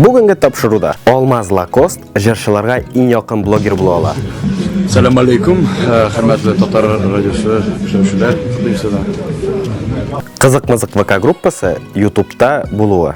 Бүгенге тапшыруда Алмаз Лакост җырчыларга иң якын блогер була ала. Сәлам алейкум, хөрмәтле татар радиосы күрсәтүчеләр, кызыгызда. Кызык-мызык ВК группасы YouTube-та булуы.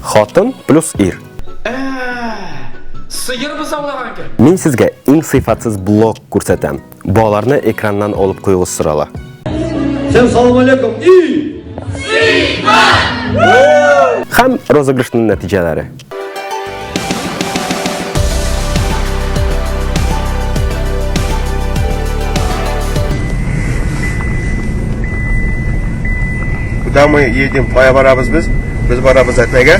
Хатын плюс ир. Сыер бызаулаган кем? Мин сезгә иң сыйфатсыз блог күрсәтәм. Балаларны экраннан алып куюыгыз сорала. Всем салам алейкум и... Хәм розыгрышның нәтиҗәләре. Куда мы едем? Кая барабыз без? Без барабыз Әтнәгә.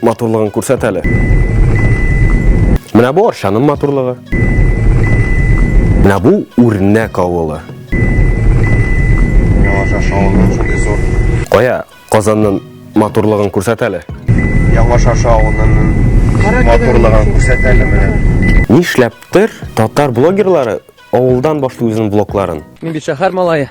Матурлыгын күрсәт әле. Менә бу арчаның матурлыгы. Менә бу үрнәк авылы. Яңаша шавылы шундый зур. Кая Казанның матурлыгын күрсәт әле. Яңаша шавылын матурлыгын күрсәт әле менә. Нишләптер татар блогерлары авылдан башлый үзенең блокларын. Мин бит шәһәр малае.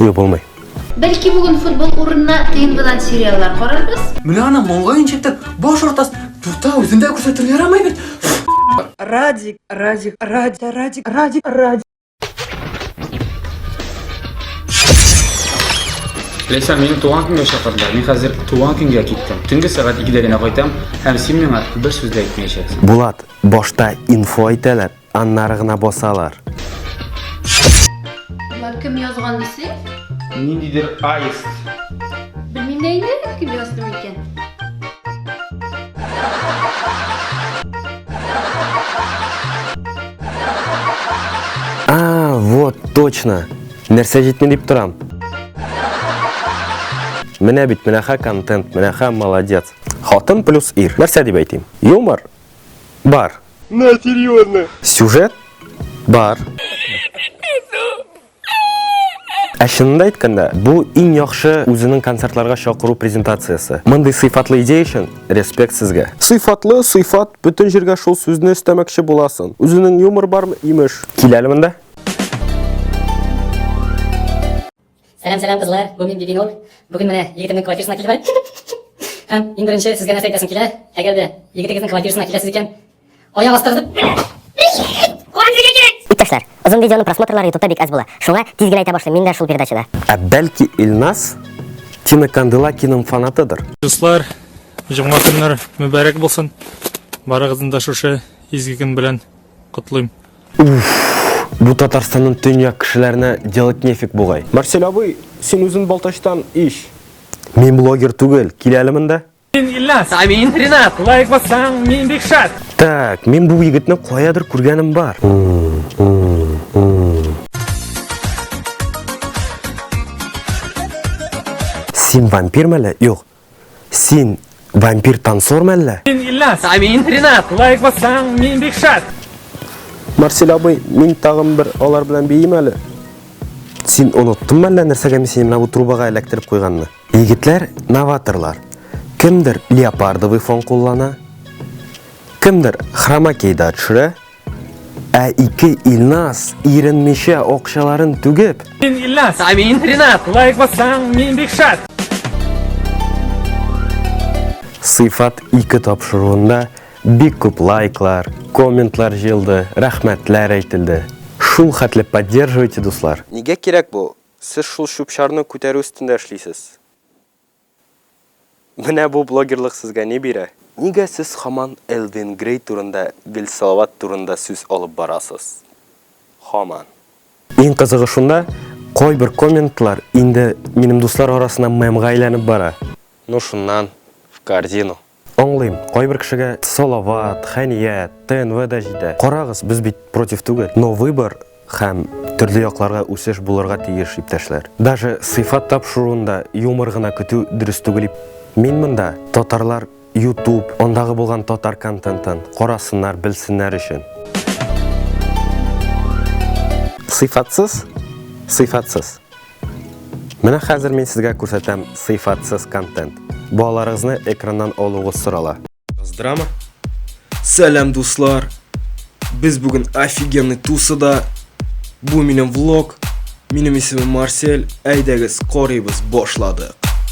Юк, булмый. Бәлки бүген футбол урынына тнвдан сериаллар карарбыз? Менә аны маңгаен чәктер, баш артас, дурта үзендә күрсәтер ярамый бит. Радик, Радик, Радик, Радик, Радик, Радик. Ләйсән, мине туган көнгә чакырдылар. Мин хәзер туган көнгә киттем. Төнге сәгать 2-дә генә кайтам һәм син миңа бер сүз дә әйтмәячәксең. Булат, башта инфо әйтәләр, Аннары гына басалар. Болар кем язган дисең? Ниндидер аист. Белмим дә инде, кем язды микән? А, вот, точно. Нәрсә җитми дип торам. Менә бит, менә ха контент, менә ха молодец. Хатын плюс ир. Нәрсә дип әйтим? Юмор бар. На, серьезно. Сюжет бар. Ә чынында әйткәндә, бу иң яхшы үзенең концертларга чакыру презентациясе. Мондый сыйфатлы идея өчен респект сезгә. Сыйфатлы, сыйфат, бөтен җиргә шул сүзне өстәмәкче буласын. Үзенең юмор бармы, имеш. Киләле монда. Сәлам, сәлам, кызлар, бу мин Бибинур. Бүген менә егетемнең квартирасына килдем. Һәм иң беренче сезгә нәрсә әйтәсем килә, әгәр дә егетегезнең квартирасына киләсез икән, аяк астырып. Иптәшләр, озын видеоның просмотрлары ютубта бик әз була. Шуңа тиз генә әйтә башлыйм, мин дә шул передачада. Ә бәлки Илназ Тина Канделакиның фанатыдыр? Дуслар, җомга көннәр мөбарәк булсын. Барыгызны да шушы изге көн белән котлыйм. Уф, бу Татарстанның төньяк кешеләренә делать нефиг бугай. Марсель абый, син үзен Балтачтан ич. Мин блогер түгел, кил әле монда. Мин Ильназ. Ә мин Ренат. Лайк бассаң, мин бик шат. Так, мин бу егетне каядыр күргәнем бар. Син вампир мәле? Юк, Син вампир танцор мәллә? Мин Ильнас, а мин Ренат. Лайк бассаң, мин бик шат. Марсель абый, мин тагын бер алар белән бейим әле. Син оныттың мәллә нәрсәгә мин сине бу трубага эләктереп куйганны? Егетләр новаторлар. Кемдер леопардовый фон куллана, кемдер хромакейда төшерә, Ә ике Илназ иренмичә акчаларын түгеп. Мин Илназ, ә мин Ринат. Лайк бассаң, мин бик шат. Сыйфат 2 тапшыруында бик күп лайклар, комментлар җыелды, рәхмәтләр әйтелде. Шул хәтле поддерживайте, дуслар! Нигә кирәк бу? Сез шул чүп-чарны күтәрү өстендә эшлисез. Менә бу блогерлык сезгә ни бирә? Нигә сез хаман Элвин Грей турында гел Салават турында сүз алып барасыз? Хаман. Иң кызыгы шунда, кайбер комментлар инде минем дуслар арасына мемга әйләнеп бара. Ну шуннан, в корзину. Аңлыйм, кайбер кешегә Салават, Хәния, ТНВ да җитә. Карагыз, без бит против түгел. Но выбор һәм төрле якларга үсеш булырга тиеш, иптәшләр. Даже сыйфат тапшыруында юмор гына көтү дөрес түгел. Мин монда татарлар YouTube, андагы булган татар контентын карасыннар, белсеннәр өчен. Сыйфатсыз, сыйфатсыз. Менә хәзер мин сезгә күрсәтәм сыйфатсыз контент. Балаларыгызны экраннан алугыз сорала. Здрама. Сәлам, дуслар. Без бүген офигенный тусыда. Бу минем влог. Минем исемем Марсель. Әйдәгез, карыйбыз, башладык.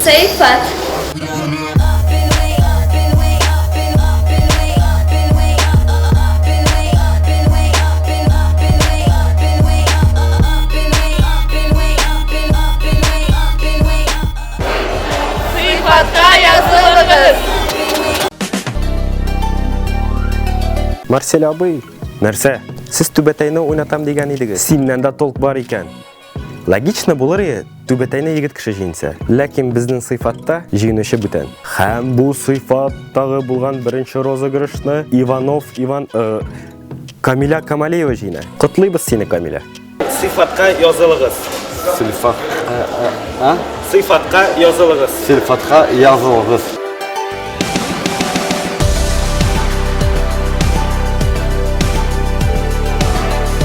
Сыйфат. Марсель абый, нәрсә? Сез түбәтәйне уйнатам дигән идегез. Синнән дә толк бар икән. Логично булыр иде, түбәтәйне егет кеше җиңсә. Ләкин безнең сыйфатта җиңүче бүтән. Һәм бу сыйфаттагы булган беренче розыгрышны Иванов Иван э, Камиля Камалеева җиңә. Котлыйбыз сине, Камиля. Сыйфатка язылыгыз. Сыйфат. Э, э, а? Сыйфатка язылыгыз. Сыйфатка язылыгыз.